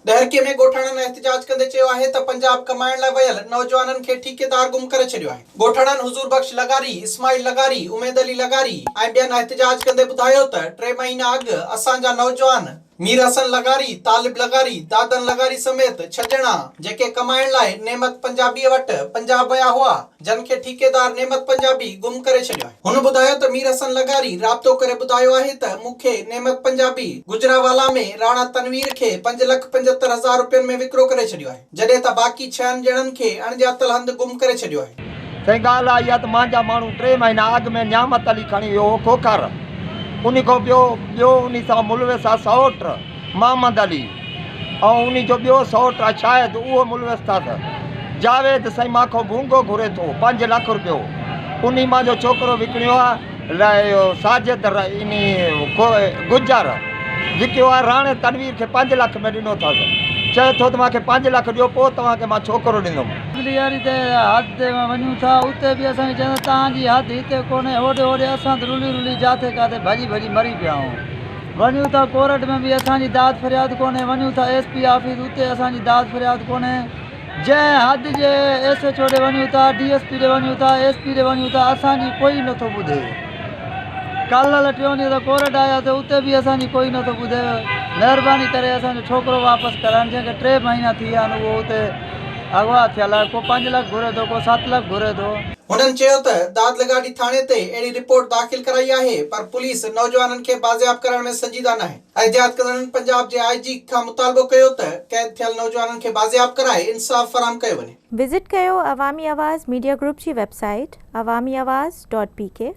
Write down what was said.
ڏهرڪي ۾ ڳوٺاڻن احتجاج ڪندي چيو آهي ته پنجاب ڪمائڻ لاء ويل نوجوانن کي ٺيڪيدار گم ڪري ڇڏيو آهي. ڳوٺاڻن حضور بخش لغاري، اسماعيل لغاري، اميد علي لغاري ۽ ٻين احتجاج ڪندي ٻڌايو ته ٽي مهينا اڳ اسان جا نوجوان مير حسن لغاري، طالب لغاري، دادن لغاري سميت ڇهه ڄڻا جيڪي ڪمائڻ لاء نعمت پنجابيء وٽ پنجاب ويا هئا، جن کي ٺيڪيدار نعمت پنجابي گم ڪري ڇڏيو آهي. هن ٻڌايو ته مير حسن لغاري رابطو ڪري ٻڌايو آهي ته مون کي نعمت پنجابي گجرانوالا ۾ راڻا تنوير کي پنج لک پنجهتر هزار رپين ۾ وڪرو ڪري ڇڏيو آهي جڏهن ته باقي ڇهن ڄڻن کي اڻڄاتل هنڌ گم ڪري ڇڏيو آهي. سائين ڳالهه اها ئي آهي ته مانجا ماڻهو ٽي مهينا اڳ ۾ نعمت علي کڻي ويو هو کوکر ان کان پيو ٻيو ان سان ملوث آهي سئوٽ. محمد علي ۽ انهي جو ٻيو سئوٽ اشاهد اهو ملوث ٿا ته جاويد سائين مان کان ڀونگو گهري ٿو پنج لک روپيو انهي مان جو ڇوڪرو وڪڻيو آ لاء اهو ساجد انهي گجر وڪيو آ راڻي تنوير کي پنج لک ۾ ڏنو ٿس چئي ٿو ته مان کي پنج لک ڏيو پوء توهان کي مان ڇوڪرو ڏيندم. اڳلي ياري تي حد تي مان وڃون ٿا اتي به اسان کي چون ٿا توهان جي حد هتي ڪونهي هوڏي هوڏي اسان ته رلي رلي جاٿي ڪاٿي ڀڄي ڀڄي مري پيا آهيون. وڃون ٿا ڪورٽ ۾ به اسان جي داد فرياد ڪونهي وڃون ٿا ايس پي آفيس اتي اسان جي داد فرياد ڪونهي جنهن حد جي ايس ايڇ او ڏي وڃون ٿا ڊي ايس پي ڏي وڃون ٿا ايس پي ڏي وڃون ٿا اسان جي ڪوئي نٿو ٻڌي ڪالهه ٽيون ڏينهن ته ڪورٽ آياسي اتي به اسان جي ڪوئي نٿو ٻڌي مهرباني ڪري اسان جو ڇوڪرو واپس ڪرائن جنهن کي ٽي مهينا ٿي ويا آهن اهو اتي اغوا ٿيل آهي ڪو پنج لک گهري ٿو ڪو ست لک گهري ٿو هنن چيو ته داد لغاري ٿاڻي تي اهڙي رپورٽ داخل ڪرائي آهي پر پوليس نوجوانن کي بازياب ڪرڻ ۾ سنجيده ناهي. احتجاج ڪندڙن پنجاب جي آء جي کان مطالبو ڪيو ته قيد ٿيل نوجوانن کي بازياب ڪرائي انصاف فراهم ڪيو وڃي. وزٽ ڪيو عوامي آواز ميڊيا گروپ جي website Awami Awaz dot P ڪي.